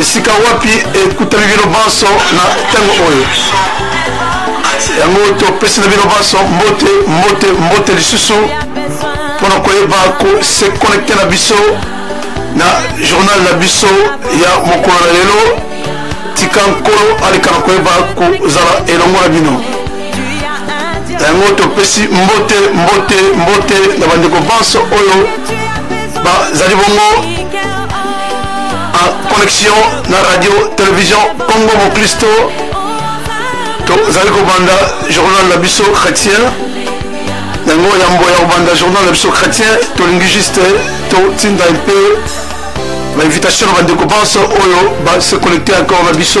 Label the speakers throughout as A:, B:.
A: esika wapi ekutami bino banso na ntango oyo yango topesi na bino banso mbote mbote mbote lisusu mpo na koyeba kose connecte na biso na journal na biso ya mokolo na lelo tika nkolo aleka na koyeba kozala elongo na bino yango topesi mbote mbote mbote na bandeko banso oyo bazali bongo en connexion na radio télévision congo moklisto tozali kobanda journal na biso chrétien yango yambo ya kobanda journal na biso chrétien tolingi juste totinda mpe bainvitation na bandeko banso oyo base connecte encore na biso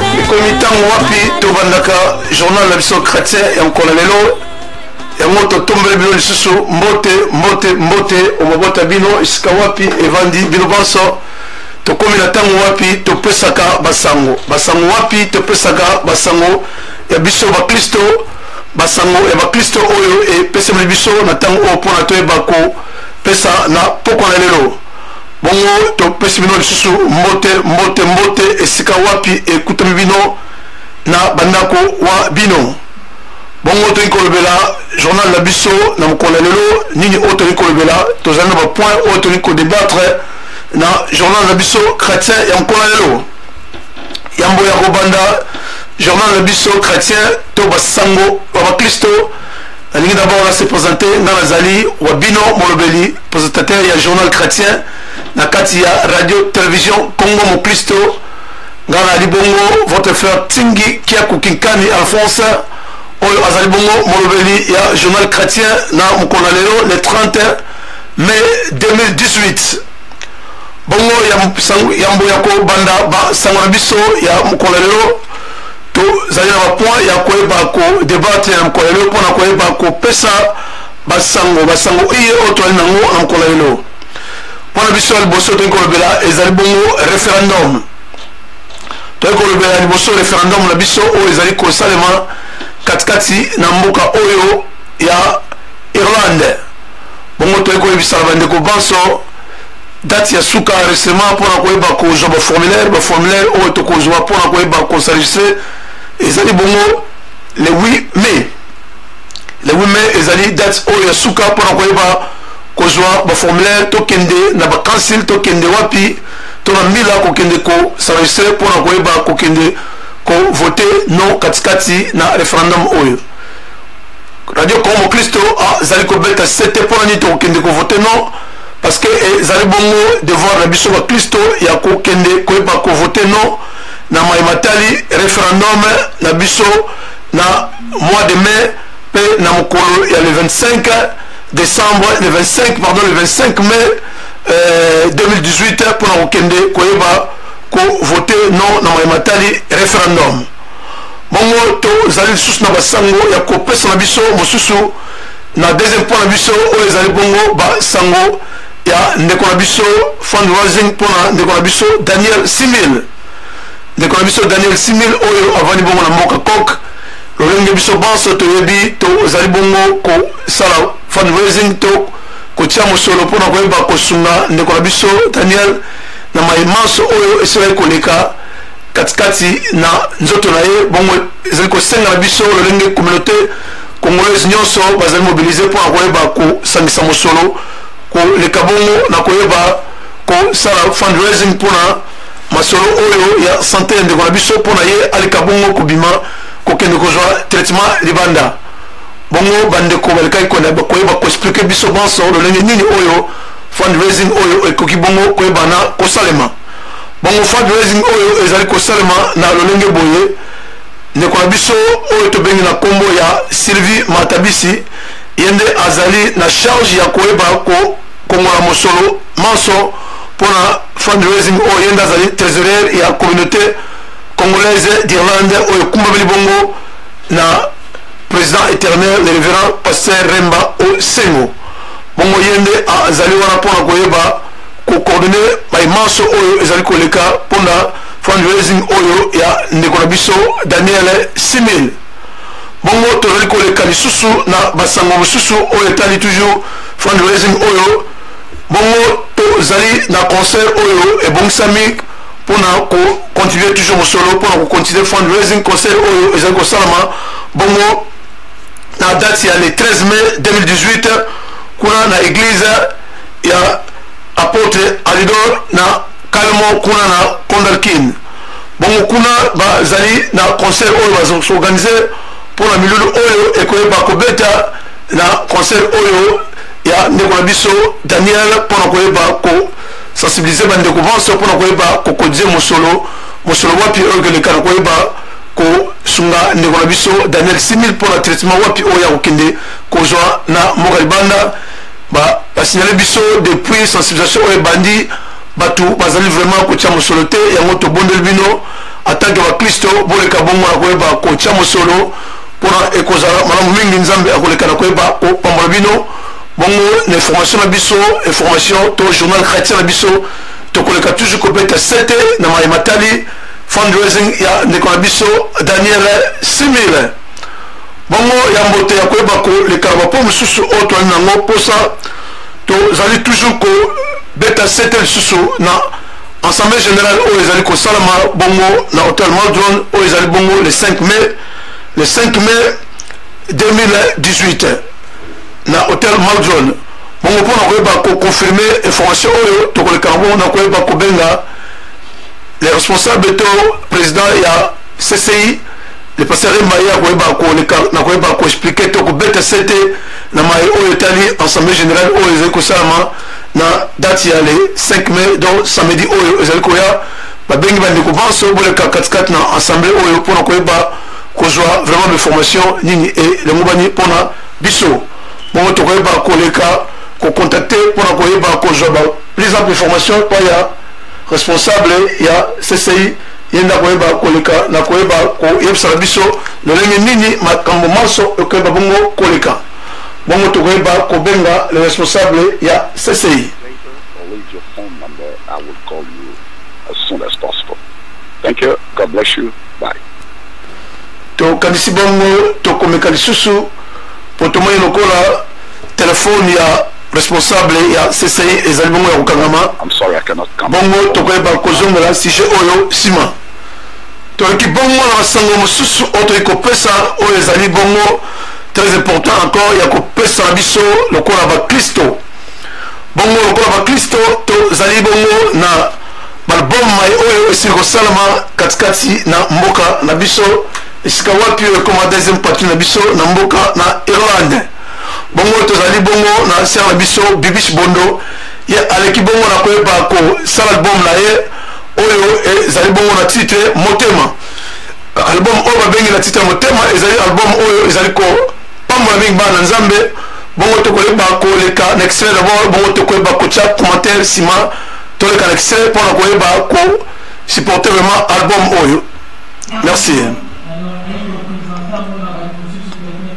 A: ekomi ntango wapi tobandaka journal na biso chrétien ya mokolo lelo yango totombeli bino lisusu mbote mbote mbote omabota bino esika wapi evandi bino banso tokomi na ntango wapi topesaka basango basango wapi topesaka basango ya biso baklisto basango ya baklisto oyo epesameli biso na ntango oyo mpona toyeba kopesa na mpokwa na lelo bongo topesi bino lisusu mbote mbote mbote esika wapi ekutami bino na bandako wa bino bongo toyei kolobela journal na biso na mokolo ya lelo nini oyo toyei kolobela tozali na bapoint oyo toyei kodebattre na journal na biso chrétien ya mokolo ya lelo yambo ya kobanda journal na biso chrétien to basango ya baklisto nalingi d'abord na se présente nga nazali wa bino molobeli présentateur ya journal chrétien na kati ya radio télévision congo moklisto nga nazali bongo votre frère tingi kiaku kinkani alphonse oyo azali bongo molobeli ya journal chrétien na mokolo na lelo le 30 mai 2018 bongo ya mbo ya kobanda basango na biso ya mokolo na lelo tozali na bapoint ya koyeba kodebatre na mokolo lelo mpo na koyeba kopesa basango basango iye oyo tozali nango na mokolo lelo mpo na biso ya liboso toyei kolobela ezali bongo referendum toyei kolobela liboso referendum na biso oyo ezali kosalema katikati na mboka oyo ya irlande bongo toyei koyebisa na bandeko banso date ya suka enregistrement mpo na koyeba kozwa baformulaire baformulaire oyo tokozwa mpo na koyeba kosenregistre ezali bongo le 8 mai le 8 mai ezali date oyo ya suka mpo na koyeba kozwa baformulaire tokende na bacancil tokende wapi to na mbila kokende kosenregistre mpo na koyeba kokende kovote no katikati na referendum oyo radio congo mokristo azali kobeta sete mpo na nini tokokende kovote no parce que ezali bongo devoir na biso baklisto ya kokende koyeba kovote non na mai matali referendum na biso na mois de mai mpe na mokolo ya le 25 décembre le 25 pardon le 25 mai euh, 2018 mpo na kokende koyeba kovote non na mai matali referendum bongo tozali lisusu na basango ya kopesa na biso mosusu na deuxième point na biso oyo ezali bongo basango ya ndeko na biso fundraising mpo na ndeko na biso daniel simil ndeko na biso daniel simil oyo avandi bongo na mboka coke lolenge biso banso toyebi tozali bongo kosala fundraising to kotia mosolo mpo na koyeba kosunga ndeko na biso daniel na mai manso oyo esilaki koleka katikati na nzoto na ye bongo ezali kosenga na biso lolenge communauté Congolais nyonso bazali mobilize mpo na koyeba kosangisa mosolo koleka bongo na koyeba kosala fundraising mpo na masolo oyo ya sante ya ndeko na biso mpo na ye aleka bongo kobima kokende kozwa traitement libanda bongo bandeko balekaki koyeba koexplike biso banso lolenge nini oyo fundraising oyo ekoki bongo koyebana kosalema bongo fundraising oyo ezali kosalema na lolenge boye Ndeko na biso oyo tobengi na nkombo ya Sylvie Matabisi ye nde azali na charge ya koyeba kokongola mosolo manso mpo na fundraising oyo ye nde azali trésorier ya communauté congolaise d'Irlande oyo ekumbameli bongo na président éternel le révérend pasteur Remba Osengo bongo ye nde azali wana mpo na koyeba kocoordonne baye manso oyo ezali koleka mpo na fundraising oyo ya ndeko na biso daniel simil bongo tozali koleka lisusu na basango mosusu oyo etali toujours fundraising oyo bongo tozali na concert oyo ebongisami mpona kocontinue toujours mosolo mpona kocontinue fundraising concert oyo ezali kosalama bongo na date ya le 13 mai 2018 kuna na église ya apôtre alidor na calmo kuna na conderkin bongo kuna bazali na concert oyo bazoorganize mpo na milulu oyo ekoyeba kobeta na concert oyo ya ndeko na biso daniel mpo na koyeba kosensibilize bandeko banso mpo na koyeba kokodize mosolo mosolo wapi oyo ekoleka na koyeba kosunga ndeko na biso daniel simil mpo na traitement wapi oyo ya kokende kozwa na mboka libanda basinyale biso depuis sensibilisation oyo ebandi bato bazali vraiment kotya mosolo te yango tobondeli bino atanke baklisto boleka bongo na koyeba kotya mosolo mpona ekozala malamu mingi nzambe akoleka na koyeba kopambola bino bongo na information na biso information to journal chrétien na biso tokoleka toujours kobeta sete na maye matali fundraising ya ndeko na biso daniel simile bongo ya mbote ya koyeba koleka na bapo mosusu oyo toyali nango mposa tozali toujours kobeta sete lisusu na assemblée générale oyo ezali kosalama bongo na hotel maldron oyo ezali bongo le 5 mai le 5 mai 2018 na hotel maldron bongo mpo na koyeba koconfirme information oyo tokoleka yango na koyeba kobenga le responsable to président ya cci le pasteur mbaye akoyeba koleka na koyeba koexplike to kobeta sete na maye oyo etali assemblée générale oyo ezali kosalama na date ya le 5 mai donc samedi oyo ezali koya babengi bandeko banso boleka katikati na assemblée oyo mpona koyeba kozwa vraiment baformation nini elongobani mpona biso bongo tokoyeba koleka kocontacte mpona koyeba kozwa ba plus ample formation epai ya responsable ya cci ye nde akoyeba koleka na koyeba koyebisaka biso lolenge nini makambo manso ekoyeba bongo koleka bongo tokoyeba kobenga le responsable ya cci Thank
B: you. God bless you. Bye.
A: tokanisi bongo tokomeka lisusu mpo tomoni lokola telefone ya responsable ya cci ezali bongo ya kokangama
B: bongo tokoyeba
A: kozongola sujet oyo nsima toyoki bongo na basango mosusu oyo toyei kopesa oyo ezali bongo très important encore ya kopesa na biso lokola baklisto bongo lokola baklisto tozali bongo na balbum mai oyo esili kosalama katikati na mboka na biso esika wapi oyo ekoma deuxième partie na biso na mboka na irlande bongo tozali bongo na sere na biso bibish bondo ye aleki bongo na koyeba kosala album na ye oyo ezali bongo na titre motema album oyo babengi na titre motema ezali album oyo ezali kopambola mingi bana na nzambe bongo tokoyeba koleka na extrait dabord bongo tokoyeba kotya commentaire nsima toleka na extrait mpo na koyeba ko supporter vraiment album oyo merci mm -hmm.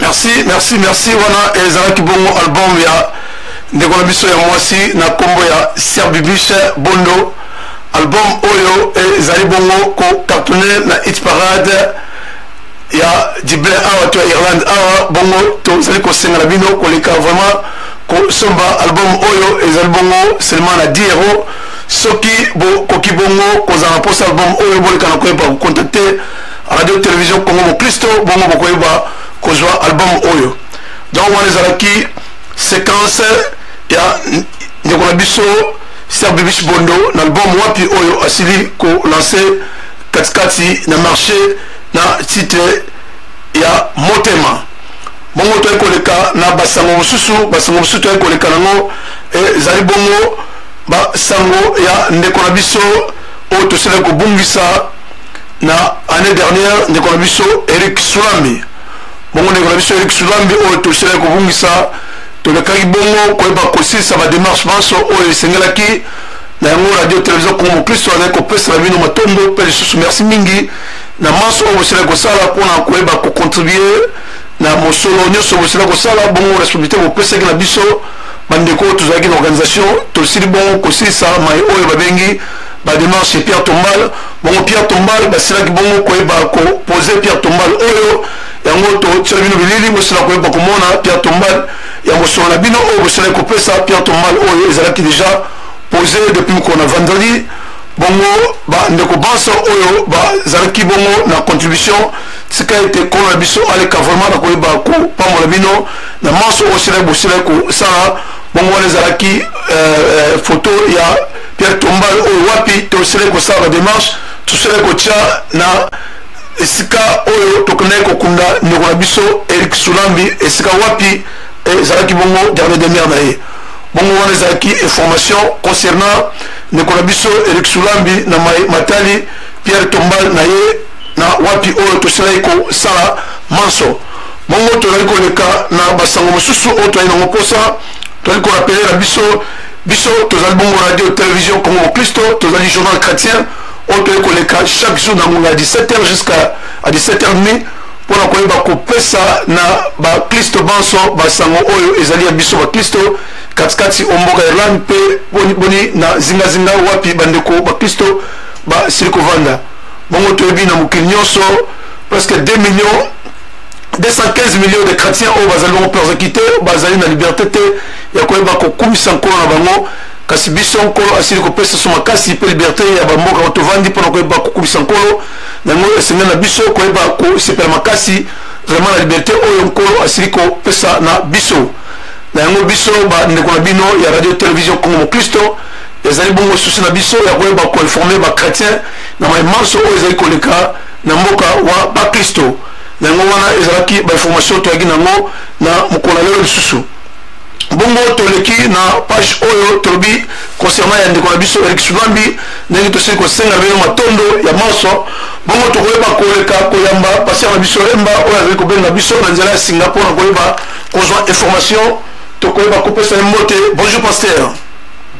A: merci merci merci wana ezalaki bongo album ya ndeko na biso ya mwasi na nkombo ya serbibishe bondo album oyo ezali bongo kocartone na hit parade ya dible awa to ya irlande awa bongo tozali kosenga na bino koleka vraiment kosomba album oyo ezali bongo seulement na 10 euro soki bokoki bongo kozala na posa album oyo boleka na koyeba kocontacte radio télévision congo mokristo bongo bokoyeba kozwa album oyo donc wana ezalaki séquence ya ndeko na biso ser bibish bondo na album wapi oyo asili kolanse katikati na marché na titre ya motema bongo toyei koleka na basango mosusu basango mosusu toyei koleka nango eh, ezali bongo basango ya ndeko na biso oyo tosila kobungisa na année dernière ndeko na biso eric sulambi bongo ndeko na biso eric sulambi oyo tosila kobungisa tolekaki bongo koyeba kosilisa bademarche banso oyo esengelaki na yango radio télévision congo mokristo azali kopesela bino matondo mpe lisusu merci mingi na manso oyo bosilaki kosala mpona koyeba kocontribue na mosolo nyonso bosila kosala bongo responsabilité bopesaki na biso bandeko oyo tozalaki na organisation tosili bongo kosilisa mai oyo babengi bademarche pierre tombal bongo pierre tombal basilaki bongo koyeba kopose pierre tombal oyo yango totyela bino bilili bosila koyeba komona pierre tombal ya mosolo na bino oyo bosilaki kopesa pierre tombal oyo ezalaki déjà posé depuis mokolo na vendredi bongo bandeko banso oyo bazalaki bongo na contribution tika ete nkolo na biso aleka vraiment na koyeba kopambola bino na manso oyo silaki bosilaki kosala bongo wana ezalaki euh, euh, foto ya pierre tombal oyo wapi tosilaki kosala bademarche tosilaki kotya na esika oyo tokendaki kokunda ndeko na biso erik sulambi esika wapi eh, ezalaki bongo dernier demeure na ye bongo wana ezalaki information concernant ndeko na biso erik sulambi na matali pierre tombal na ye na wapi oyo tosilaki kosala manso bongo tozali koleka na basango mosusu oyo tozali nango mposa tozali korapele na biso biso tozali bongo radio télévision congo mokristo tozali journal chrétien oyo tozali koleka chaque jour na ngonga ya 17h jusqu'à 17h demi mpo na koyeba kopesa na baklisto banso basango oyo ezali ya biso baklisto katikati o mboka ya irlande mpe boniboni na zingazinga wapi bandeko baklisto basili kovanda bongo toyebi na mokili nyonso presque 2 millions 215 millions de chrétiens oyo bazali bango persécuté bazali na liberté te ya koyeba kokumisa nkolo na bango kasi biso nkolo asili kopesa so makasi mpe liberté ya bamboka oyo tovandi mpo na koyeba kokumisa nkolo na yango esengeli na biso koyeba kosepela makasi vraiment na liberté oyo nkolo asili kopesa na biso na yango biso bandeko na bino ya radio television congo mokristo ezali bongo susi na biso ya koyeba koinforme bachrétien na mai manso oyo ezali koleka na mboka wa bakristo na yango wana ezalaki bainformation toyaki na yango na mokolo na lelo lisusu bongo toleki na page oyo tolobi concernant ya ndeko na biso erik suvambi ndenge tosili kosenga bino matondo ya manso bongo tokoyeba koleka koyamba pasteur na biso remba oyo azali kobenga biso na nzela ya singa mpona koyeba kozwa information tokoyeba kopesa ye mbote bonjour pasteur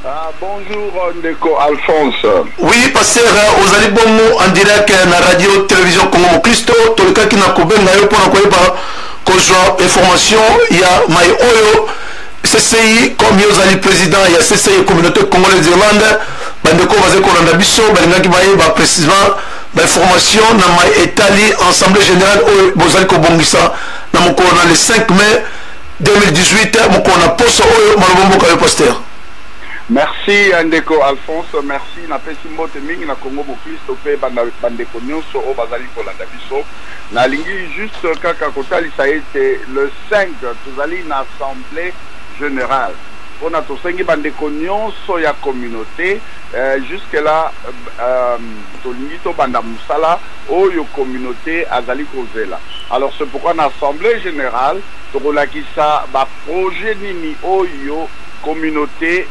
A: Ah, bonjour
B: euh, Ndeko Alphonse. Oui, pasteur,
A: euh, ozali bongo en direct euh, na radio télévision Congo Christo, tolekaki na kobenga yo mpona koyeba kozwa information ya mai oyo CCI comme yo ozali président ya CCI communauté congolaise d'Irlande, bandeko bazali kolanda biso balingaki bayeba précisément bainformation na mai etali assemblée générale oyo bozali kobongisa na mokolo na le 5 mai 2018 mokolo na poso oyo maloba mboka yo pasteur merci
B: euh, ndeko alphonse merci napesi mbote mingi na congo boklisto mpe bandeko nyonso oyo bazali kolanda biso nalingi juste kaka kotalisa ete le 5 tozali na assemblée générale mpona tosengi bandeko nyonso ya communauté euh, jusque là euh, tolingi tobanda mosala oyo communauté azali kozela alors c'est pourquoi na assemblée générale Tokolakisa ba projets nini oyo communaute,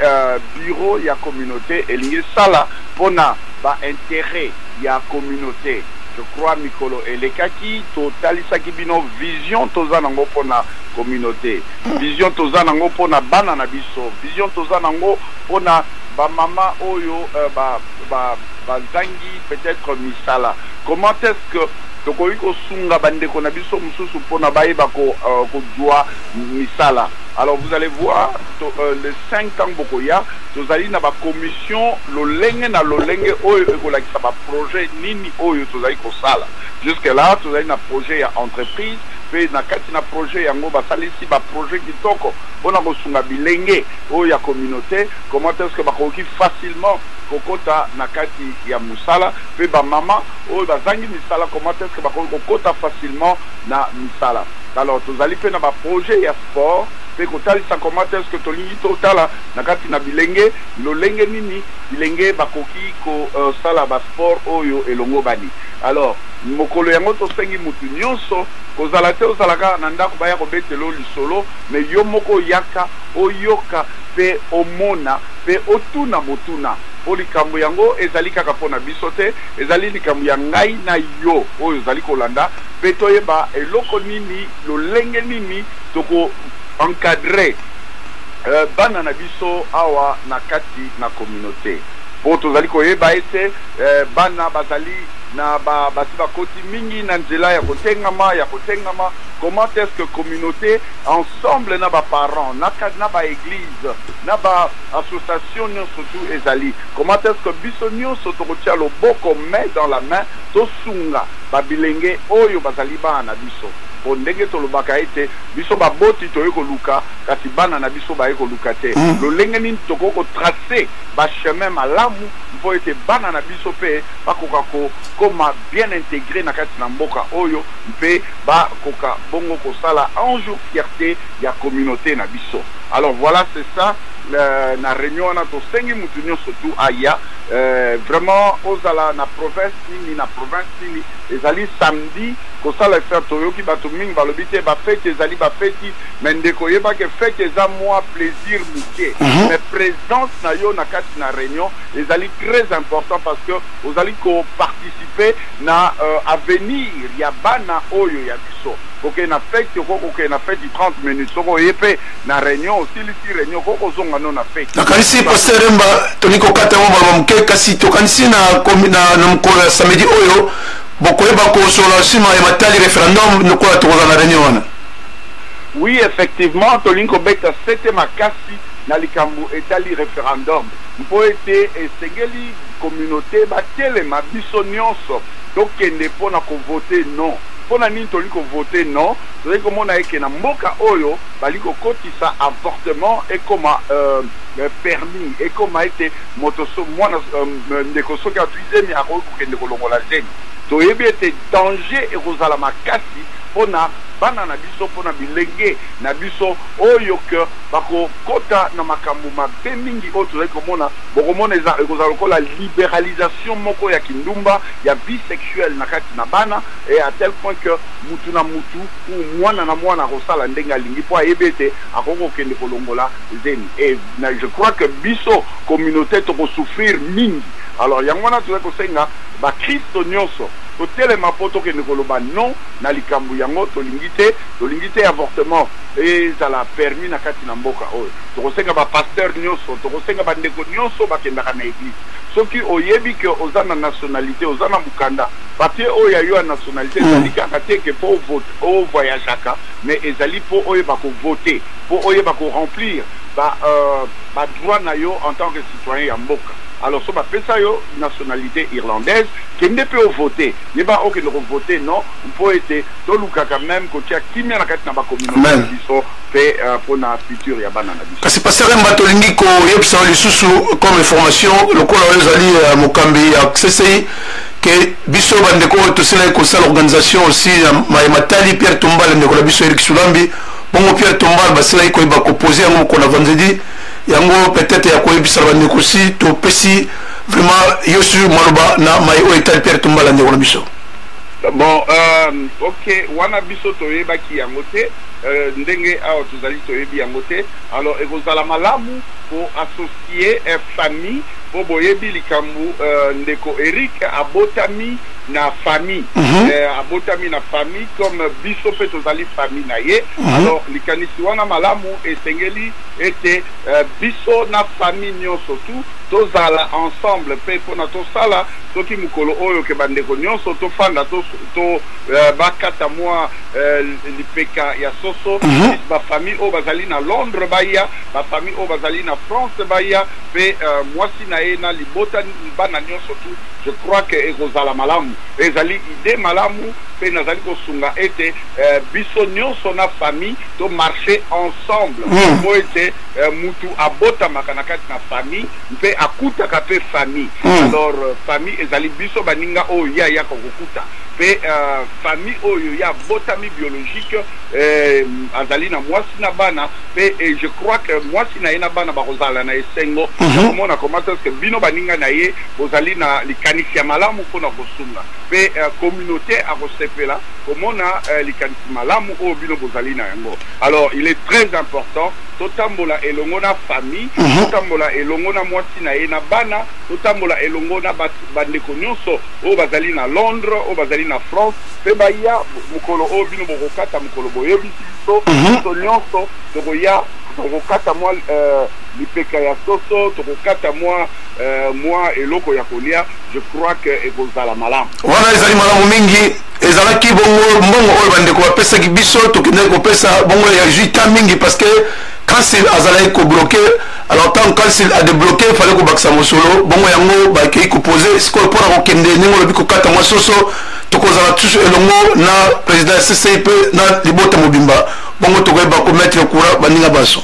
B: bureau ya communaute elingi esala pona ba interets ya communaute. Je crois mikolo elekaki totalisaki bino vision toza nango pona communaute, vision toza nango pona bana na biso, vision toza nango pona ba mama oyo ba zangi peut-etre misala. Comment est-ce que. Tokoki kosunga ba ndeko na biso mususu pona bayeba ko kozua misala alors vous allez voir le cinq tangu bokoya tozali na ba commission lolenge na lolenge oyo ekolakisa ba projet nini oyo tozali kosala jusque là tozali na projet ya entreprise pe na kati na projet yango basalisi ba projet kitoko pona kosunga bilenge oyo ya communaute comment est ce que bakoki facilement kokota na kati ya musala pe ba maman oyo bazangi misala comment est-ce que bakoki kokota facilement na misala alors tozali pe na ba projets ya sport pe kotalisa comment est-ce que tolingi totala na kati na bilenge lolenge nini bilenge bakoki kosala euh, ba sport oyo elongobani alors mokolo yango tosengi mutu nyonso kozala te ozala kaka na ndako baya kobetela yo lisolo me yo moko oyaka oyoka mpe omona mpe otuna motuna mpo likambo yango ezali kaka mpo na biso te Ezali likambo ya ngai na yo oyo ozali kolanda pe toyeba eloko nini, lolenge nini toko encadrer bana na biso awa na kati na communaute. Po tozali koyeba ete bana bazali na ba basi bakoti mingi na nzela ya kotengama, ya kotengama, comment est-ce que communaute ensemble na ba parents, na ba eglises, na ba associations nionso tout ezali. Comment est-ce que biso nionso tokotia loboko main dans la main tosunga ba bilenge oyo bazali bana na biso? Po ndenge tolobaka ete biso baboti toye koluka kasi bana na biso baye koluka te, lolenge nini tokoki ko tracer ba chemins malamu mpo ete bana na biso mpe bakoka kokoma bien integres na kati na mboka oyo mpe bakoka bongo kosala un jour fierte ya communaute na biso? Alors voila c'est ça. na reunion wana tosengi mutu nionso tu aya vraiment ozala na province nini na province nini ezali samedi kosala effaire toyoki bato mingi balobi te bafeti ezali bafeti me ndeko oyeba ke feti eza mwa plaisir moke mhm. me présence na yo na kati na réunion ezali très important parce que ozali koparticipe na euh, avenir ya bana oyo ya biso kokende na feti okoki kokende na feti 30 minutes soko oye mpe na reunion osilisi reunion ko kozonga no na fete nakanisi paster remba
A: tolingi kokata yango baloba moke kasi tokanisi na mokolo ya samedi oyo bokoyeba kosolola nsima ya matali référendum lokola tokozala na reunion wana oui
B: effectivement tolingi kobeta sete makasi na likambo etali référendum mpo ete esengeli communauté batelema biso nyonso tokende mpo na kovote non mpo na nini tolingi kovote non Tozali komona eke na mboka oyo bali kokotisa avortement ekoma permis ekoma ete moto mwana ndeko soki azwi zemi akoki kokende kolongola zemi toyebi ete danger ekozala makasi mpo na bana na biso mpo na bilenge na biso oyo que bakokota na makambo mabe mingi oyo tozali komona bokomona eza ekozala lokola liberalisation moko ya kindumba ya vie sexuelle na kati na bana et à tel point que Moto na moto ou mwana na mwana akosala ndenge alingi mpo ayebi ete akoki kokende kolongola zemi et je crois que biso communaute toko souffrir mingi alors yango wana tozali kosenga ba christo nionso totelema mpo tokende koloba non na likambo yango tolingi te tolingi te avortement ezala permis na kati na mboka oyo tokosenga ba pasteur nionso tokosenga bandeko nionso bakendaka na eglise soki oyebi ke oza na nationalite oza na mokanda Papier oyo ya yo ya nationalite hmm. ezali kaka te ke po o voyageaka mais ezali po oyeba ko voter po oyeba ko remplir ba euh, ba droit na yo en tant que citoyen ya mboka alors so bapesa yo nationalité irlandaise kende mpe ovote yeba okende kovote non mpo ete tolukaka meme kotia kimia na kati na bakominauté na biso mpe euh, mpo na futur ya bana na biso kasi pasteur mba
A: tolingi koyebisa lisusu comme information lokola oyo ezali euh, mokambi ya ccc ke biso bandeko oyo tosilaki kosala organisation aussi ya maye matali pierre tombal ndeko na biso erik sulambi bongo pierre tombal basilaki koyeba kopose yango mokolo na vendredi yango peut-être ya koyebisa na bandeko si topesi vraiment yo su maloba na maye oyo etali pierre tombal ya ndeko na biso bon um,
B: ok wana biso toyebaki yango te uh, ndenge awa tozali toyebi yango te alors ekozala malamu koassocie uh, famille Po boyebi likambu ndeko Eric abotami na famille abotami na famille comme biso pe tozali famille na ye alors likanisi wana malamu esengeli ete biso na famille nionso tout tozala ensemble pe pona tosala soki mukolo oyo ke ba ndeko nionso tofanda to bakata mua lipeka ya soso ba famille oyo bazali na Londres baya ba famille oyo bazali na France baya pe mwasi na ye na libota bana nionso tout je crois que ekozala malamu ezali idee malamu pe nazali kosunga ete biso nionso na famille to marche ensemble po ete mutu abotamaka na kati na famille mpe akutaka pe famille alors famille ezali biso baninga oyo ye ayaka kokuta pe famille oyo ye abotami biologique azali na mwasi na bana pe et je crois que mwasi na ye na bana bakozala na esengo mm -hmm. komona comment est-ce que bino baninga na ye bozali na likanisi ya malamu mpo na kosunga pe uh, communauté akosepela komona uh, likanisi malamu oyo bino bozali na yango alors il est très important totambola elongo na famille mm -hmm. totambola elongo na mwasi na ye na bana totambola elongo na bandeko nyonso oyo bazali na londres oyo bazali na france mpe baya mokolo oyo bino bokokata mokolo boyebi biso biso nyonso tokoya tokokata mwa euh, lipeka ya soso tokokata mwa euh, mwa eloko ya kolia je crois que ekozala malamu wana ezali malamu
A: mingi ezalaki bongo mbongo oyo bandeko bapesaki biso tokendaki kopesa bongo ya juta mingi parce que kansil azalaki kobloke alors ntango kansil adebloke fale kobakisa mosolo bongo yango bakei kopose sikoyo mpo na kokende ndenge olobi kokata mwa soso tokozala tusu elongo na président ya ccii mpe na libota mobimba bongo tokoyeba komettre courant baninga
B: banso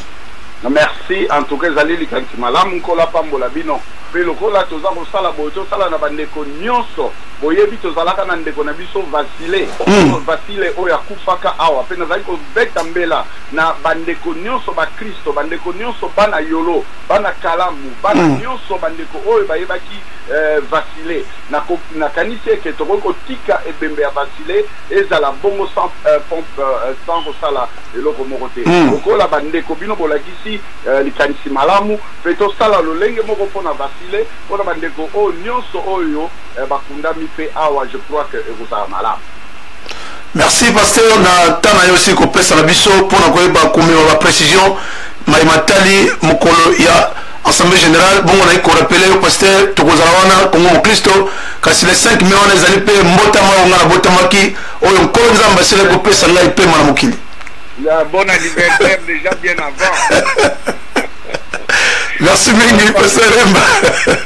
B: merci
A: en
B: tout cas ezali likanisi malamu nkolo apambola
A: bino
B: mpe lokola toza kosala boye tosala na bandeko nyonso boyebi tozalaka na ndeko na biso vasile hmm. vasile oyo akufaka awa mpe nazali kobeta mbela na bandeko nyonso bakristo bandeko nyonso bana yolo bana kalamu bana hmm. nyonso bandeko oyo bayebaki eh, vasile Nakanisi ete tokoki kotika ebembe ya basile ezala bongo sans pompe, sans kosala eloko moko te. Lokola bandeko bino bolakisi likanisi malamu, mpe tosala lolenge moko mpo na basile, mpo na bandeko oyo nionso oyo bakundami mpe awa, je crois que ekozala malamu. Merci
A: pasteur na temps na yo osili kopesa na biso mpo na koyeba komema ba precision maye matali mokolo ya assemblée générale bongo naye korapele yo pasteur tokozala wana kongo mokristo kasi le 5 mai wana ezali mpe mbotama oyo ngai nabotamaki oyo nkolo nzambe asila kopesa ngai mpema na mokili bon
B: anniversaire déjà bien avant
A: merci mingi pasteur emba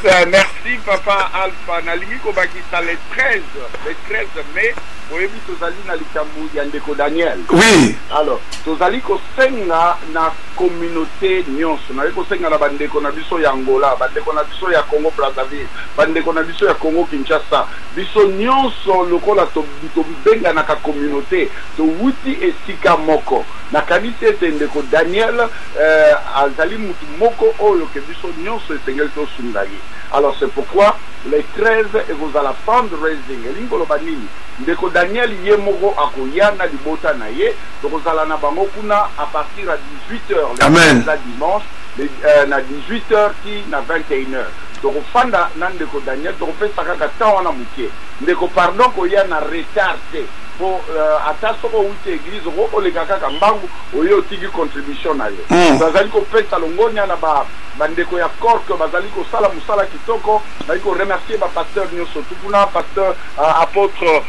A: euh, merci papa
B: alpha nalingi kobakisa le 13 le 13 mai oyebi tozali na likambo ya ndeko daniel oui alors
A: tozali
B: kosenga na communaute nionso naye kosenga na bandeko na biso ya Angola, bandeko na biso ya Congo Brazzaville, bandeko na biso ya Congo Kinshasa, biso nionso lokola tobenganaka communaute towuti esika moko. Nakanisi ete ndeko Daniel eh, azali mutu moko oyo ke biso nionso esengeli tosunga ye. Alors c'est pourquoi le 13 ekozala fundraising, elingi koloba nini? Ndeko Daniel ye moko akoya na libota na ye Tokozala na bango kuna à partir ya 18 heures le Amen. eza dimanche le, euh, na 18 heures ti na 21 heures tokofanda na ndeko Daniel tokopesa kaka temps wana moke ndeko pardon koya na retard te po euh, ata soko outi église oko oleka kaka mbangu oye otiki contribution na yo Mm. bazali kopesa longonya na ba bandeko ya corke bazali kosala mosala kitoko bazali koremercier bapasteur nyonso tukuna pasteur uh, apôtre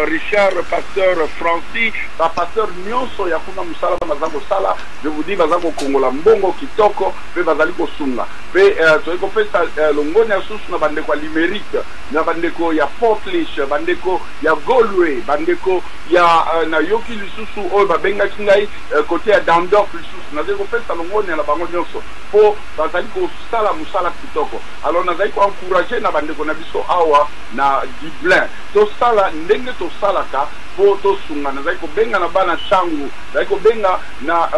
B: Richard pasteur Francis ba pasteur nionso ya kuna musala baza kosala je vous dis baza kokongola mbongo kitoko pe bazali kosunga pe uh, toyei kopesa uh, longoni ya susu na bandeko ya limerique na bandeko ya portlish bandeko ya golwe bandeko ya uh, nayoki lisusu oyo babengaki ngai uh, kote ya dandorf lisusu nazali kopesa longoni na bango nyonso mpo bazali kosala mosala kitoko alors nazali koencourage na bandeko na biso awa na dublin Tosala ndenge tosalaka po tosunga. Nazali kobenga na bana Tshangu, nazali kobenga na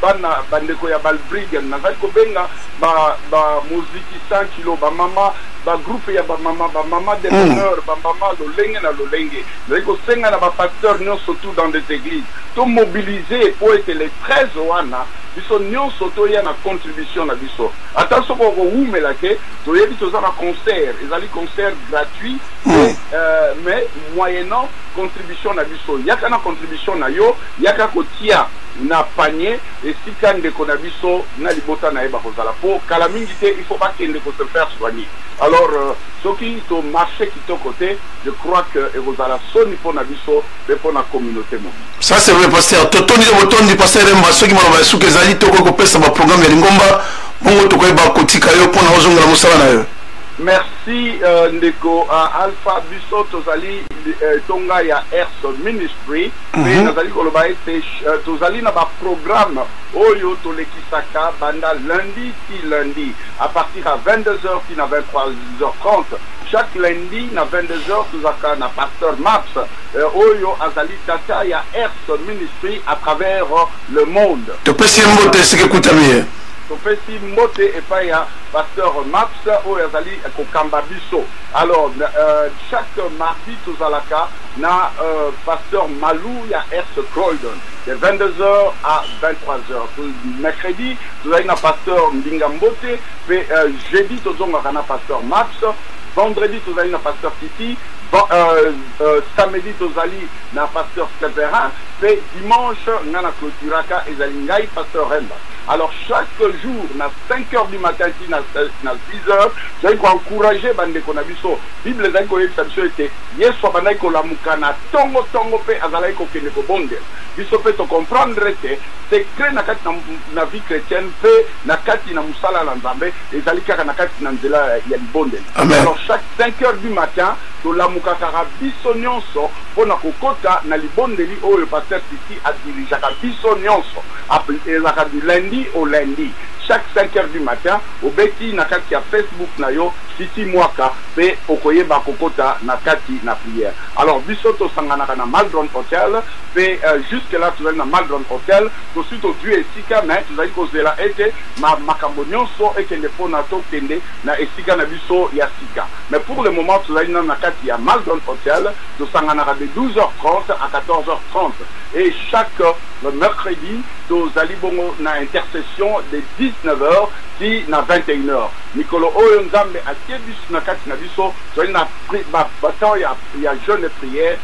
B: bana bandeko ya Balbriggen, nazali kobenga ba ba moziki sans kilo, ba mama, ba groupe ya ba mama, ba mama de bonheur, ba mama lolenge na lolenge. Nazali kosenga na ba pasteurs nionso tout dans les eglises to mobiliser po ete le 13 wana biso nionso toya na contribution na biso. Ata soki okowumela te, toyebi toza na concert, ezali concert gratuit. Mm. Euh, mais moyennant contribution na biso yaka na contribution na yo yaka kotia na panier esika ndeko na biso na libota na ye bakozala mpo kala mingi te il faut bakende ko se faire soigner alors euh, soki to marché kitoko te je crois que ekozala soni mpo na biso mpe mpo na communauté mobili ça c'est vrai pasteur
A: totondi yo botondi pasteur remba soki maloba ya suka ezali tokoki kopesa baprogramme ya lingomba bongo tokoyeba kotika yo mpo na ozongela mosala na yo Merci
B: ndeko Alpha biso tozali etonga ya Ers Ministry mpe nazali koloba ete tozali na ba programme oyo tolekisaka banda lundi ti lundi à partir ya 22h ti na 23h30 chaque lundi na 22h tozalaka na pasteur Maps oyo azali tata ya Ers Ministry à travers le monde topesi ye mbote
A: esika ekutami ye topesi
B: mbote epai ya Pasteur Maps oyo azali kokamba biso alors chaque mardi tozalaka na Pasteur Malu ya Est Croydon de 22 heures à 23 heures mercredi tozali na Pasteur Mbinga Mbote pe jeudi tozongaka na Pasteur Maps vendredi tozali na Pasteur Titi samedi tozali na Pasteur Severin pe dimanche nga na clôturaka ezali ngai Pasteur Remba alors chaque jour na 5 heures du matin ti na 6 heures tozali ko encourager bandeko na biso bible ezali koyebisa biso ete yesu abandaki kolamuka na tongo tongo mpe azalaki kokende kobondela biso mpe tocomprendre ete secret na kati na vie chrétienne mpe na kati na mosala na nzambe ezali kaka na kati na nzela ya libondeli alors chaque 5 heures du matin tolamukakaka biso nyonso mpo na kokota na libondeli oyo paster titi adirigeaka biso nyonso Apl ezalaka du lundi au lundi chaque cinq heures du matin obeti na kati ya Facebook na yo Fifi Mwaka pe okoyeba kokota na kati na prière. Alors biso tosanganaka na Maldron Hotel pe jusque là tozali na Maldron Hotel tosi tozui esika mais tozali kozela ete ma makambo nionso ekende pona tokende na esika na biso ya sika mais pour le moment tozali nanu na kati ya Maldron Hotel tosanganaka de 12 heures 30 à 14 heures 30 et chaque Le mercredi, tozali bongo na intercession de 19 heures ti na 21 heures. Mikolo oyo Nzambe atie bisu na kati na biso, tozali na ba temps ya, ya jeune et prière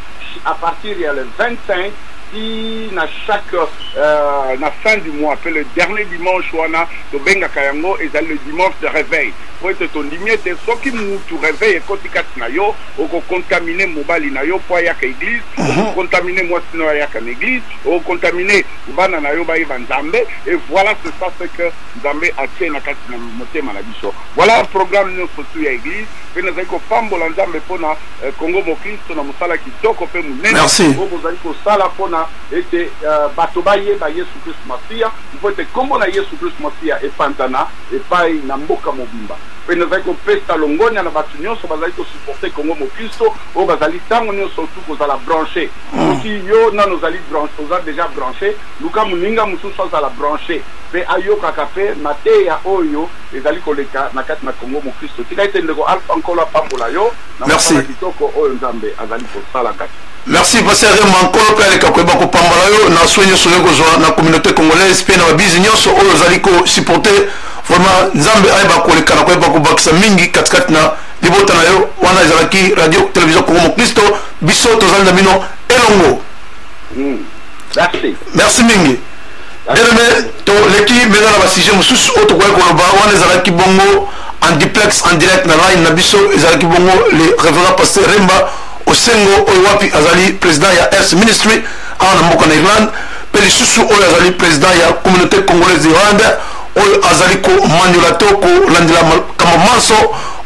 B: à partir ya le 25 ti na chaque euh, na fin du mois mpe le dernier dimanche wana tobengaka yango ezali le dimanche de réveil mpo ete tondimi ete soki mutu réveil ekoti kati na yo oko contamine mobali na yo mpo ayaka eglise mhm. oko contamine mwasi na yo ayaka na eglise oko contamine bana na yo bayeba nzambe e voilà c'est ça ce que nzambe atie na kati na motema na biso voilà programme nyonso tu ya eglise mpe nazali kopambola nzambe mpo na eh, kongo mokristo na mosala kitoko mpe monene oyo bozali kosala mpo na ete eh, bato bayeba yesu kristu masiya mpo ete nkombo na yesu kristu masiya epanzana epai na mboka mobimba mpe nazali kopesa longonya na bato nyonso bazali kosuporte Congo Moklisto oyo bazali ntango nyonso tu kozala branche. Soki yo nano ozali branche, oza deja branche, luka moninga mosusu azala branche mpe ayokaka mpe mateya oyo ezali koleka na kati na Congo Moklisto. Tika ete ndeko Alpha Nkolo apambola yo na mosala kitoko oyo
A: Nzambe
B: azali kosala kati Merci Pasteur Rema
A: Nkolo pe aleka koyeba kopambola yo na soin nyonso oyo kozwa na communauté congolaise pe na babizi nyonso oyo ozali ko supporter vraiment Nzambe ayeba koleka na koyeba kobakisa mingi katikati na libota na yo wana ezalaki radio télévision Congo Mokristo biso tozali na bino elongo hmm. Merci. Merci mingi. Bien-aimé, toleki mpenza na basujet mosusu oyo tokoki koloba wana ezalaki bongo en duplex en direct na line na biso ezalaki bongo le révérend pasteur remba osengo oyo wapi azali president ya earth ministry awa na mboka na irlande mpe lisusu oyo azali president ya communauté congolaise d'irlande oyo azali komanyola to kolandela makambo manso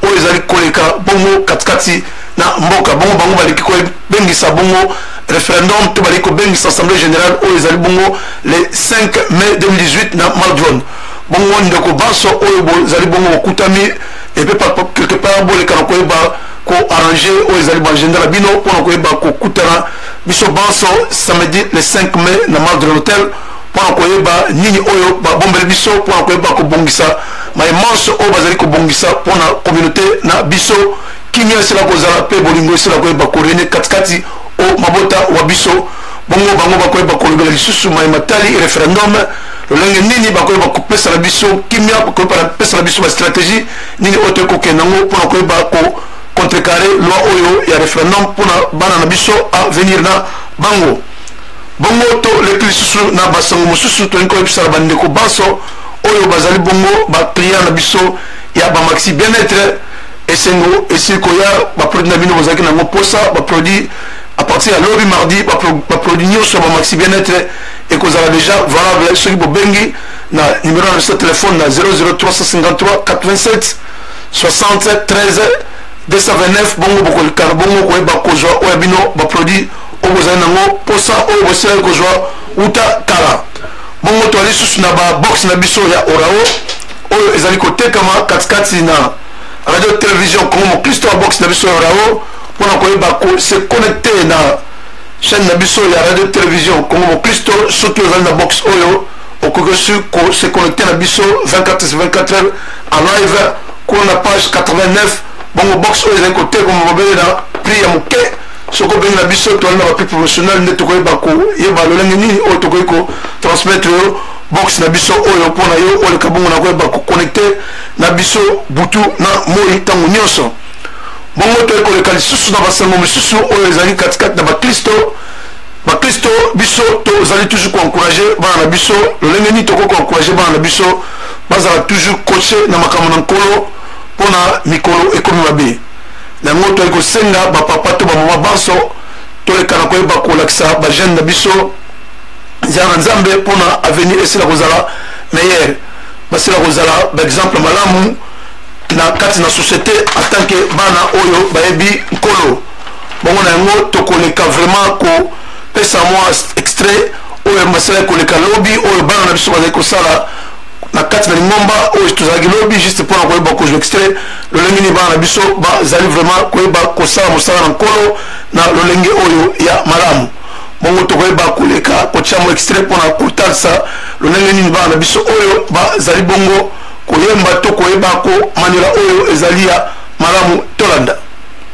A: oyo ezali koleka bongo katikati na mboka bongo bango baleki kobengisa bongo référendum to baleki kobengisa assemblée générale oyo ezali bongo le 5 mai 2018 na maldron bongo ndeko banso oyo bozali bongo bokutami epe quelque part bolekana koyeba ko arranger oyo ezali ba agenda na bino mpona koyeba kokutana biso banso samedi le 5 mai na mardi de l'hôtel mpona koyeba nini oyo babombeli biso mpona koyeba kobongisa maye manso oyo bazali kobongisa mpona communauté na biso kimia esila kozala mpe bolingo esila koyeba korene katikati o mabota wa biso bongo bango bakoyeba kolobela lisusu maye matali referendum lolenge nini bakoyeba kopesa na biso kimia bakoyeba na pesa na biso bastratégie nini oyo toyei kokenda yango mpo na koyeba ko contrecarre loi oyo ya référendum mpo na bana na biso avenir na bango bongo toleki lisusu na basango mosusu tolingi koyebisa na bandeko banso oyo bazali bongo baclient na biso ya bamaxi bien être esengo esili koya baproduit na bino bozalaki nango mposa baproduit à partir ya lobi mardi baproduit nyonso ya bamaxi bien être ekozala déjà valable soki bobengi na numero na biso ya telefone na 00353 87 60 13 229 bongo bokolikana bongo koyeba kozwa oyo ya bino baproduit oyo bozali nango mposa oyo bosilaki kozwa uta kala bongo toali lisusu na babox na biso ya orao oyo ezali kotekama katikati na radio television congo mokristo ya box na biso ya orao mpo na koyeba se connecte na chaîne na biso ya radio television congo mokristo soki ozali na box oyo okoki osi ko se connecte na biso 24 sur 24 heures en live kuna na page 89 bongo box oyo ezali kotekoma bobele na prix ya moke soki obengi na biso toali na bapi professionnel nde tokoyeba koyeba lolenge nini oyo tokoki kotransmettre yo box na biso oyo mpo na yo oleka bongo na koyeba koconnecte na biso butu na moi ntango nyonso bongo toyei koleka lisusu na basango mosusu oyo ezali katikati na baklisto bakristo biso tozali toujours koencourage bana na biso lolenge nini tokoki koencourage bana na biso bazala toujours coache na makambo na nkolo mpo na mikolo ekomi mabe na yango toyali kosenga bapapa to bamama banso toleka na koyeba kolakisa bajeune na biso nzela na nzambe mpo na avenir esila kozala meilleur basila kozala baexemple malamu na kati na société en tant que bana oyo bayebi nkolo bongo na yango tokoleka vraiment kopesa mwa extrait oyo masala ekoleka lobi oyo bana na biso bazali kosala na kati na lingomba oyo tozalaki lobi juste mpona koyeba kozwa extrait lolenge nini bana na biso bazali vraiment koyeba kosala mosala na nkolo na lolenge oyo ya malamu bongo tokoyeba koleka kotya mwa extrait mpona kotalisa lolenge nini bana na biso oyo bazali bongo koyemba to koyeba komanyola oyo ezali ya malamu tolanda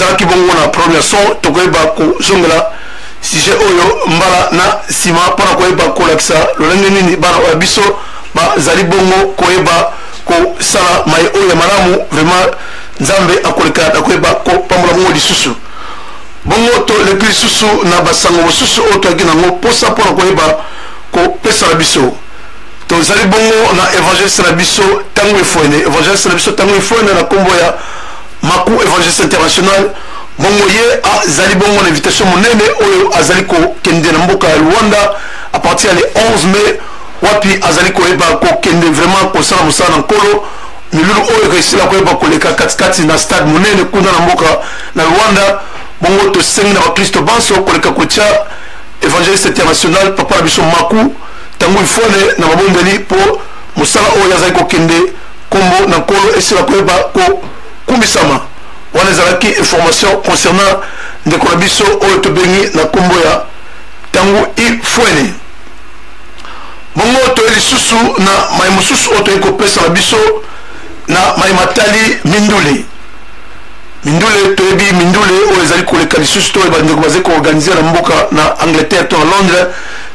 A: tozalaki bongo na problème ya son tokoyeba kozongela sujet oyo mbala na nsima mpo na koyeba kolakisa lolenge nini bana oyo biso bazali bongo koyeba kosala mai oyo ya malamu vraiment nzambe akoleka na koyeba kopambola bongo lisusu bongo toleki lisusu na basango mosusu oyo toyaki nango mposa mpo na koyeba kopesa na biso tozali bongo na evangeliste na biso ntango efoene evangeliste na biso ntango efoene na nkombo ya Maku Evangeliste International bongo ye azali bongo na invitation monene oyo azali kokende na mboka ya Luanda à partir ya le 11 mai wapi azali koyeba kokende vraiment kosala mosala na nkolo milulu oyo ekosila koyeba koleka katikati na stade monene kuna na mboka na Luanda bongo tosengi na bakristo banso koleka kotya evangeliste international papa na biso maku ntango ifone na mabondeli mpo mosala oyo azali kokende Kombo na Nkolo esila koyeba ko kumisama. Wana ezalaki information concernant ndeko na biso oyo tobengi na kombo ya Tangu Ifwene. Bongo toye lisusu na mai mosusu oyo toyei kopesa na biso na mai matali mindule mindule toyebi mindule oyo ezali koleka lisusu to bandeko bazali koorganize na mboka na angleterre to na londres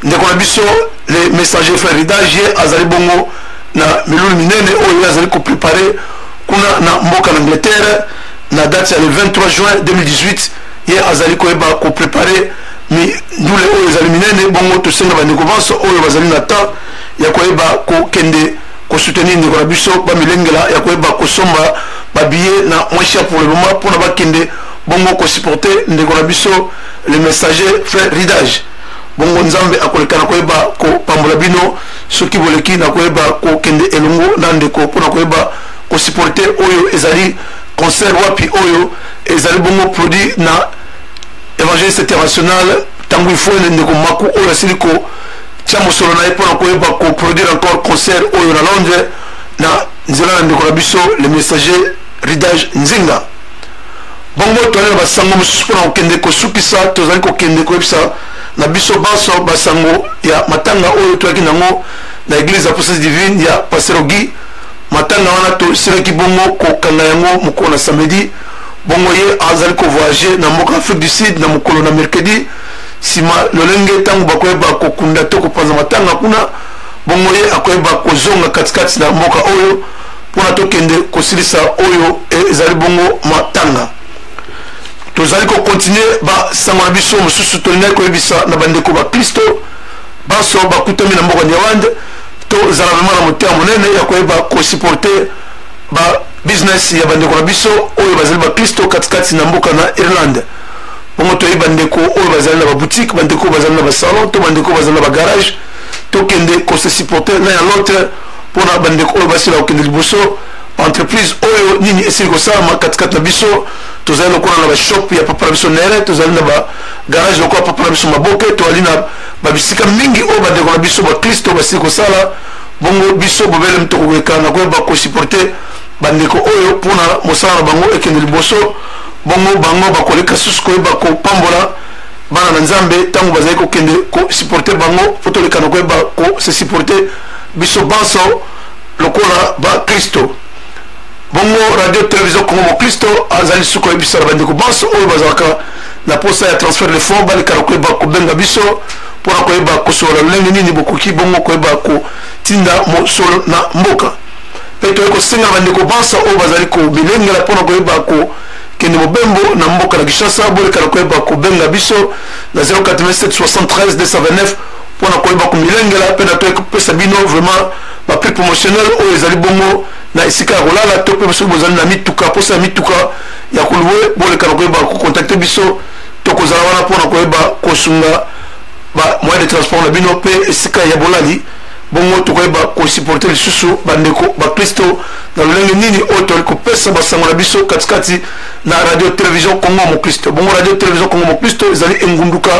A: ndeko na biso le messager frère ridagie azali bongo na milulu minene oyo ye azali koprepare kuna na mboka na angleterre na date ya le 23 juin 2018 ye azali koyeba koprepare mindule oyo ezali minene bongo tosenga bandeko banso oyo bazali na temps ya koyeba kokende kosoutenir ndeko na biso bamilengela ya koyeba kosomba babiye na moins cher pour le moment mpona bakende bongo kosupporte ndeko na biso le messager frère ridage bongo nzambe akoleka na koyeba kopambola bino soki boleki na koyeba kokende elongo na ndeko mpo na koyeba kosupporte oyo ezali concert wapi oyo ezali bongo produit na évangéliste international ntango ifoene ndeko maku oyo asili kotya mosolo na ye mpo na koyeba koproduire encore concert oyo na londres na nzela na ndeko na biso le messager ridage nzinga bongo toyali na basango mosusu mpo na kokende kosukisa tozali kokende koyebisa na biso banso basango ya matanga oyo toyaki nango na eglise ya puissance divine ya paserogi matanga wana tosilaki bongo kokanga yango mokolo na samedi bongo ye azali kovoyage na mboka afrique du sud na mokolo na mercredi nsima lolenge ntango bakoyeba kokunda to kopanza matanga kuna bongo ye akoyeba kozonga katikati na mboka oyo mpona tokende kosilisa oyo ezali bongo matanga tozali kokontinue basango na biso mosusu tolingaki koyebisa na bandeko baklisto banso bakutami na mboka nyawande tozala vraimen na motema monene ya koyeba kosuporte babusiness ya bandeko na biso oyo bazali baklisto katikati na mboka na irlande bongo toyebi bandeko oyo bazali na baboutique bandeko oyo bazali na basalon to bandeko oyo bazali na bagarage tokende kose supporte l'un ya l'autre mpona bandeko oyo basila kokende liboso entreprise oyo nini esili kosalama katikati na biso tozali lokola na bashop ya papa na biso nere tozali na bagarage lokola papa na biso maboke toali na babisika mingi oyo bandeko na biso baklisto basili kosala bongo biso bobele mtokokeka na koyeba kosupporte bandeko oyo mpona mosala na bango ekende liboso bongo bango bakoleka susu koyeba kopambola bana na nzambe ntango bazali kokende kosupporte bango mpo toleka na koyeba kosesupporte biso banso lokola baklisto bongo radio television congo moklisto azali suku ya biso na bandeko banso oyo bazalaka na posa ya transfert de fond balekana koyeba kobenga biso mpo na koyeba kosolola lolenge nini bokoki bongo koyeba kotinda mosolo na mboka mpe toyei kosenga na bandeko banso oyo bazali komilengela mpo na koyeba kokende mobembo na mboka na kinshasa bolekana koyeba kobenga biso na 0877329 mpo na koyeba komilengela mpe na toyei kopesa bino vraiment baprix promotionnel oyo ezali bongo na esika ya kolala to mpe soki bozali na mituka mposa ya mituka ya kolue boleka na koyeba kokontakte biso tokozala wana mpo na koyeba kosunga bamoyen de transport na bino mpe esika ya bolali bongo tokoyeba kosupporte lisusu bandeko bakristo na lolenge nini oyo toyali kopesa basango na biso katikati na radio television congo mokristo bongo radio television congo mokristo ezali engunduka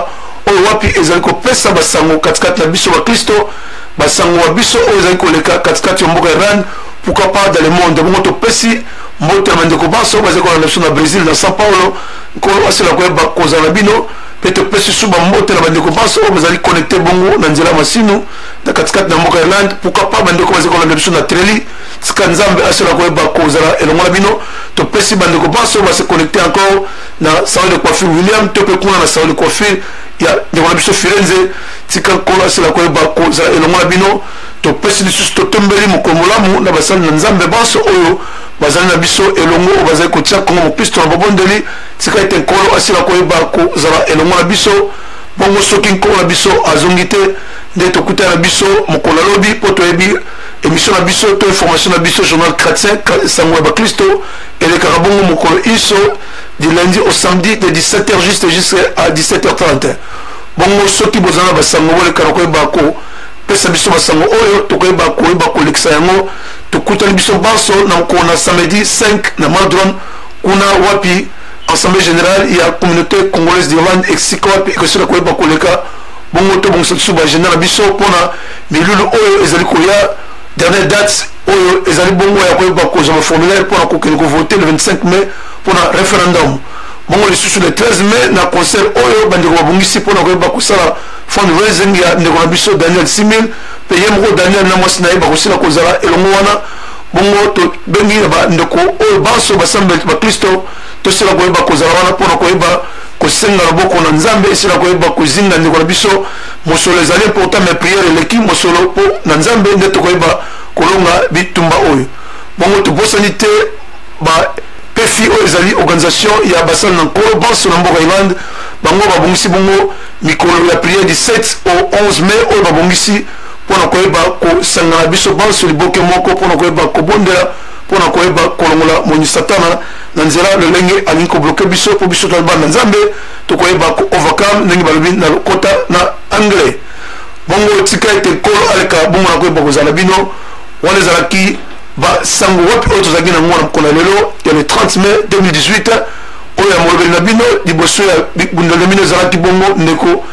A: oyo wapi ezali kopesa basango katikati na biso bakristo basango wa biso oyo ezali koleka katikati ya mboka iran pourquoi pas dans le monde bongo topesi mbote ya bandeko banso bazali kolanda biso na brésil na sao paulo nkolo asila koyeba kozala na bino mpe topesi su bambote na bandeko banso oyo bazali connecte bongo na nzela masino na katikati na mboka irlande pourquoi pas bandeko bazali kolanda biso na treli tika nzambe asila koyeba kozala elongo na bino topesi bandeko banso base connecte encore na salon de coiffure william to mpe kuna na salon de coiffure ya ndeko na biso firenze tika nkolo asila koyeba kozala elongo na bino topesi lisusu totombeli mokolo molamu na basali na nzambe banso oyo bazali na biso elongo oyo bazali kotia kongo mokristo na babondeli tika ete nkolo asila koyeba kozala elongo na biso bongo soki nkolo na biso azongi te nde tokutana na biso mokolo ya lobi mpo toyebi émission na biso to information na biso journal chrétien sango ya bakristo elekaka bongo mokolo inso du lundi au samedi de 17h juste jusqu'à 17h31 Bongo soki boza na basango boleka na koyeba ko pesa biso basango oyo tokoyeba koyeba kolekisa yango tokutani biso banso na mokolo na samedi 5 na madron kuna wapi assemblée générale ya communauté congolaise d'irlande esika wapi ekosila koyeba koleka bongo tobongisa lisusu baagenda na biso mpona milulu oyo ezali koya dernière date oyo ezali bongo ya koyeba kozwa baformulaire mpona kokende kovote le 25 mai mpona référendum Bongo lisusu le 13 mai na concert oyo bandeko babongisi mpo na koyeba kosala fundraising ya ndeko na biso Daniel Simil mpe ye moko Daniel na mwasi na ye bakosila kozala elongo wana bongo tobengi na bandeko oyo banso basambeli baklisto tosila koyeba kozala wana mpo na koyeba kosenga loboko na nzambe esila koyeba kozinga ndeko na biso mosolo ezali important mais priere eleki mosolo mpo na nzambe nde tokoyeba kolonga bitumba oyo bongo tobosani te ba PFI oyo ezali organisation ya basali na nkolo banso na mboka Irlande bango babongisi bongo mikolo ya priere du 7 au 11 mai oyo babongisi mpo na koyeba kosangana biso banso liboke moko mpo na koyeba kobondela mpo na koyeba kolongola moni satana na nzela lolenge alingi kobloke biso mpo biso toyeba na nzambe tokoyeba koovercome ndenge balobi na lokota na anglais bongo tika ete nkolo aleka bongo na koyeba kozala bino wana ezalaki ba sango wapi oyo tozalaki na mwana mokolo lelo ya le 30 mai 2018 oyo ya molobeli na bino liboso ya bundelo na bino ezalaki bongo ndeko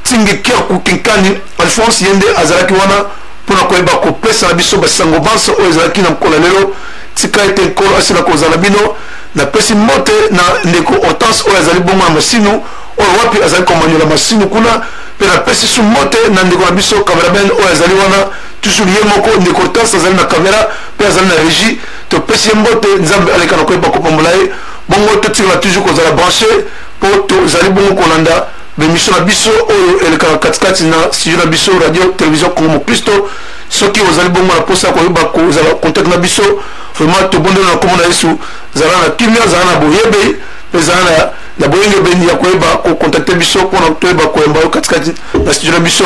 A: tingekiaku kinkani alphonse ye nde azalaki wana mpo na koyeba kopesa na biso basango banso oyo ezalaki na mokolo lelo tika ete nkolo asila kozala na bino napesi mbote na ndeko hortense oyo azali bongo na masinu oyo wapi azali komanyola masinu kuna mpe napesi su mbote na ndeko na biso cameraman oyo azali wana toujours ye moko ndeko hortense azali na kamera mpe azali na régie topesi ye mbote nzambe aleka na koyeba kopambola ye bongo totikala toujours kozala branche mpo tozali bongo kolanda bemission na biso oyo elekaka katikati na studio na biso radio télévision congo mokristo soki ozali bongo na mposa ya koyeba kozala contact na biso vraiment tobondeli na nkombo na yesu zala na kimia zala na boyebe mpe zala na na boyengebeni ya koyeba kokontakte biso mpona toyeba koyamba yo katikati na studio na biso